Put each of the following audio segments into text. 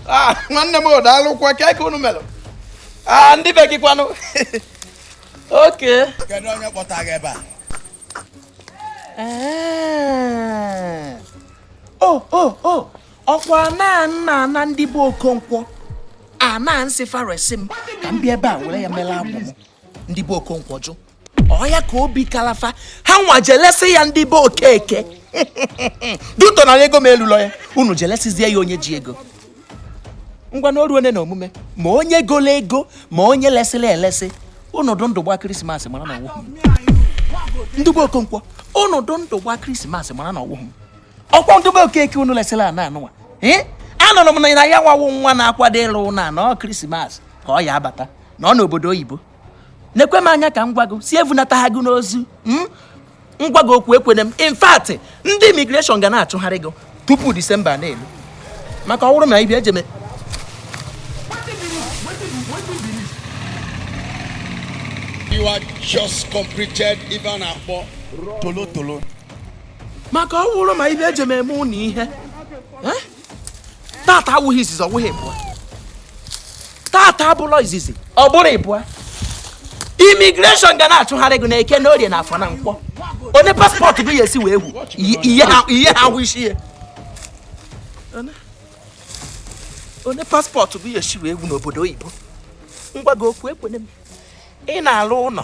Ah, nwanne m daalụkwa ka eke unu melụ ah, ndị be gị kwanụ okay kedu onye kpọta gị ebe a eh. o oh, o oh, o oh. ọkwa na n'ana ndị be okonkwo ana m sị fa resi m ka m bịa ebe a were ya mere agbụ m ndị be okonkwo jụ ọ ya ka obi kalụ fa ha nwa je lesi ya ndị be okeke due to na ego m elulọ ya unu je lesizie ya onye ji ego ngwa na o ruone na omume ma onye golo ego ma onye lesiri elesi unu dụ ndụ gba krismas mara na ọ wụhụ m ndị be okonkwo unu dụ ndụ gba krismas mara na ọ wụhụ m ọkwa ndị be okeke unu lesiri ana anụnwa ee anụrụ m na ya nwa wụ nwa na-akwado ịlụ ụnọ a na ọ krismas ka ọ ya-abata na ọ n'obodo oyibo nekwe m anya ka m gwa gị sị evunataha gị n'ozu hmm? m gwa gị okwu ekwene m in fact ndị imigreshọn ga na-achụgharị gị tupu disemba na-elu maka ọ bụrụ na ive eje You are just completed ive a na-akpọ tolotolo. maka ọ wụrụ ma ive eje m eme unu ihe eh? tata awụghị izizi ọ wụghị ịbụa tata abụlọ izizi ọ bụrọ ịbụa imigreshọn ga na-achụgharị gị n'eke na orie na afọ na nkwọ onye paspọtụ gị ya esi wee wu ihe ha ahụ isi ya onye paspọtụ gị ya esi wee wu n'obodo oyibo m gwa gị okwu ekwene m ị na-alụ ụlọ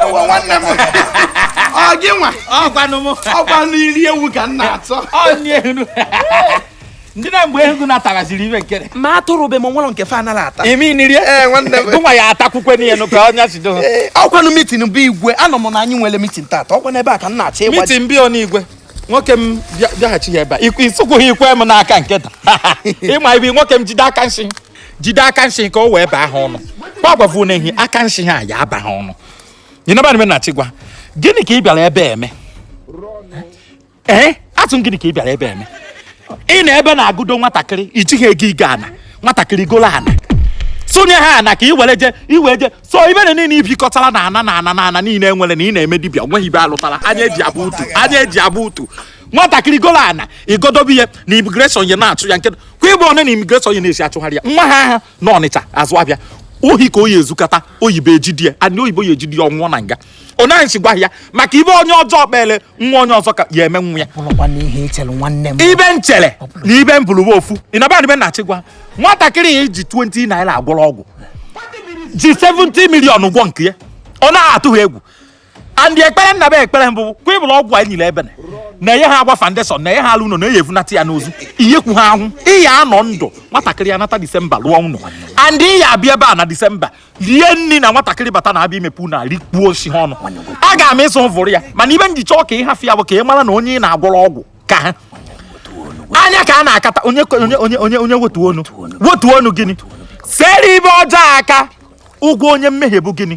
ewe nwanne m ọ gị nwa ọkwanụ m ọkwa nri ewu ka m na-achọ ọnielu ndị na mgbe ego natagaziri ibe nkere ma atụrụ be m nwere nke fa anaghị ata imi nri ee nwanne m gụnwa ya atakwukwe n'ihe nụ ka ọnya si do Ee, ọkwanụ mitin be igwe anụ m na anyị nwere mitin tata ọkwa n'ebe a ka m na-achọ ịga mitin be igwe nwoke m bịa- bịaghachi ya ebe a Ikwu- ịsụkwughị ikwe m n'aka nketa ị ma ive nwoke m jide aka nsị jide aka nshi ka o wee baa ha ọnụ kwa gwavu na ehi aka nshi ha ya aba ha ọnụ nyinaba nime na chigwa gịnị ka ị bịara ebe a eme ee eh? asị gịnị ka ị bịara ebe a eme ị nọ ebe a na-agụdo nwatakịrị i jighị ego igo ana nwatakịrị golo ana sonye ha ana ka i were je i we je so ive niile i bukọtara na ana na ana na ana niile e nwere na ị na-eme dibịa o nweghị ive a lụtara anya e ji avụ utu anya e ji avụ utu nwatakịrị golo ana igodobe ihe na immigration ya na-achụ ya nke kwa ịbụ ọnụ na immigration ya na-esi achụgharị ya nwa ha aha na ọnịcha azụ avịa ohi ka oyi ezukata oyibo ejide ya ana oyibo ya ejide ya ọ nwụọ na nga ọ naghị si gwa ya maka ive onye ọjọọ kpele nwa onye ọzọ ka ya eme nwa ya bụrụkwa na ihe echere nwanne m ive m chere na ive mbụlụwa ofu ịnaba ibe na-achị gwa nwatakịrị ya i ji 20 naira agwọrọ ọgwụ ji 70 million gwọ nke ya ọ na-atụghị egwu and ekpere nna be ekpere mbụ kwa ịbụrụ ọgwụ anyị nyere ebene na-enye ha agba foundation na-enye ha alụ ụlọ na-enye evunata ya n'ozu iyekwu ha ahụ ị ya anọ ndụ nwatakịrị ya nata disemba lụọ ụlọ and ị ya abịa ebe a na disemba rie nri na nwatakịrị bata na abịa imepe na rikpuo osi ha ọnụ a ga m ịsụ vụrụ ya mana ive m ji chọọ ka ị hafụ ya bụ ka ị mara na onye ị na-agwọrọ ọgwụ ka ha anya ka a na-akata onye onye onye onye wetu onu wetu onu gịnị sere ive ọjọọ aka ụgwọ onye mmehie bụ gịnị